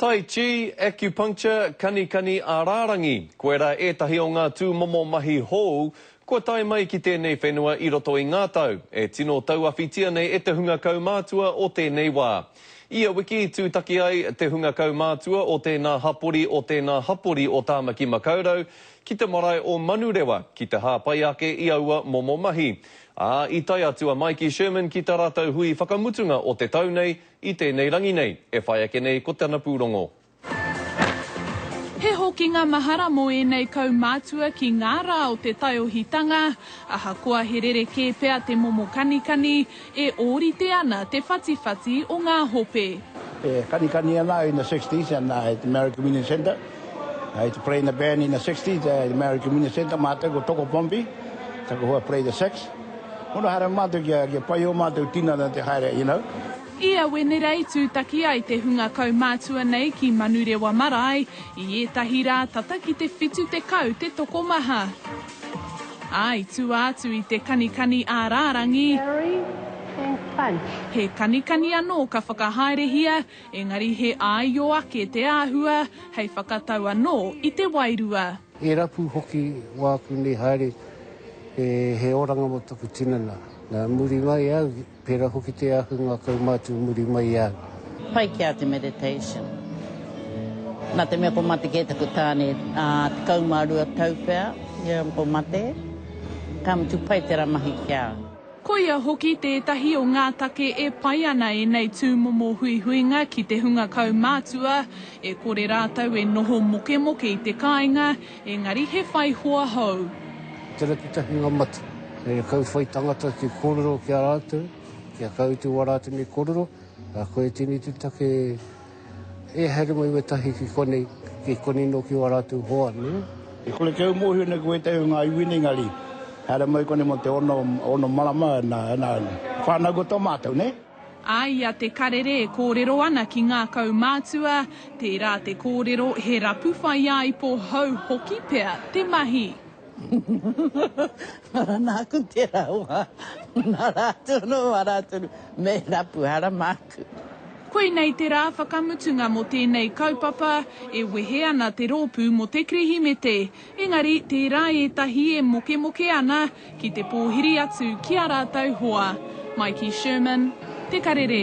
Tai Chi, Acupuncture, Kanikani a Rārangi, koirā ētahi o ngā tūmomo mahi hou kua tae mai ki tēnei whenua i roto i ngā tau, e tino tauawhitia nei e te hunga kaumātua o tēnei wā. Ia wiki i tūtaki ai te hunga kaumātua o tēnā hapori o tēnā hapori o Tāmaki Makaurau ki te marae o Manurewa ki te hāpai ake i aua momo mahi, ā, i tae atu a Maiki Sherman ki tā rātou hui whakamutunga o te tau nei I tēnei rangi nei, e whai ake nei ko tana pūrongo. He hokinga mahara mō ēnei kaumātua ki ngā rā o te taiohitanga, ahakoa he rerekē pea te momo kanikani, e ōrite ana te whatiwhati o ngā hope. E kanikani ana au in the sixties and I had the Maori Community Centre. I used to play in the band in the sixties, the Maori Community Centre, mātou ko Toko Pompey, taku hoa played the sax. Ora haere matou kia kia pai o matou tinana te haere you know. Ia Wenerei tūtaki ai te hunga kaumātua nei ki Manurewa marae, i ētahi rā tata ki te whitu tekau te tokomaha. Ā, i tua atu i te kanikani ā rārangi, he kanikani anō ka whakahaerehia, Engari he āio ake te āhua hei whakatau anō i te wairua. He rapu hoki wāku nei haere he oranga mō taku tinana. Nā muri mai au, pērā hoki te ahunga kaumātua muri mai i a au. Pai ki a te meditation. Nā te mea kua mate kē taku tāne, ā, tekau mā rua tau pea ia kua mate, ka mutu pai tērā mahi ki a au. Koia hoki tētahi o ngā take e pai ana ēnei tūmomo huihuinga ki te hunga kaumātua, e kore rātou e noho mokemoke i te kāinga, engari he whai hoa hou. Ko tērā te takinga mate, hei kau whai tangata te kōrero ki a rātou, kia kau te wā rātou nei kōrero, koia tēnei te take. E haere mai wetahi ki konei, ki konei no ki o a ratou hoa, ne? E kore kei u mohio nei ko wetahi o nga iwi nei nga ri, haere mai konei mo te ono, ono marama, na, na, whanau ko to matou, ne? A i a Te Karere e kōrero ana ki ngā kaumātua, tērā te kōrero he rapu whaiāipo hou hoki pea te mahi. Ara nāku tērā hoa, nā rātou anō ā rātou mea he rapu, ara māku. Koinei te rā whakamutunga mō tēnei kaupapa, e wehe ana te rōpū mō te Kirihimete, engari tērā ētahi e mokemoke ana ki te pōhiri atu ki ā rātou hoa. Maiki Sherman, Te Karere.